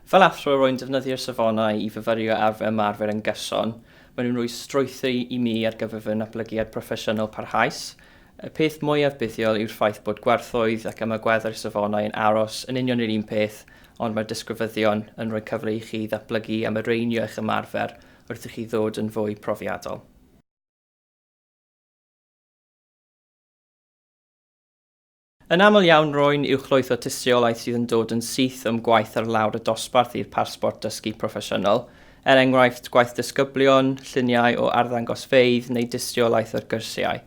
Fel athro, rwy'n defnyddio'r safonau i fyfyrio ar fy ymarfer yn gyson. Maen nhw'n rhoi strwythur i mi ar gyfer fy natblygiad proffesiynol parhaus. Y peth mwyaf buddiol yw'r ffaith bod gwerthoedd ac ymagweddau'r safonau yn aros yn union yr un peth, ond mae'r disgrifyddion yn rhoi cyfle i chi ddatblygu a mireinio eich ymarfer wrth i chi ddod yn fwy profiadol. Yn aml iawn, rwy'n uwchlwytho tystiolaeth sydd yn dod yn syth o'm gwaith ar lawr y dosbarth i'r parsbort dysgu proffesiynol, er enghraifft, gwaith disgyblion, lluniau o arddangosfeydd neu dystiolaeth o'r gyrsiau.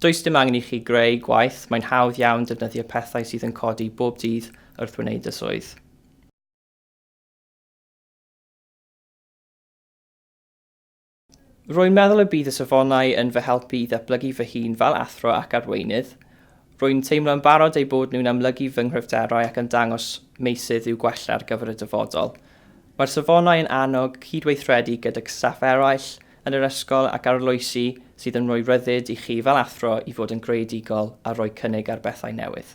Does dim angen i chi greu gwaith, mae'n hawdd iawn defnyddio pethau sydd yn codi bob dydd wrth wneud y swydd. Rwy'n meddwl y bydd y safonau yn fy helpu i ddatblygu fy hun fel athro ac arweinydd. Rwy'n teimlo yn barod eu bod nhw'n amlygu fy nghryfderau ac yn dangos meysydd i'w gwella ar gyfer y dyfodol. Mae'r safonau yn annog cydweithredu gydag staff eraill yn yr ysgol ac arloesi sydd yn rhoi rhyddid i chi fel athro i fod yn greadigol a rhoi cynnig ar bethau newydd.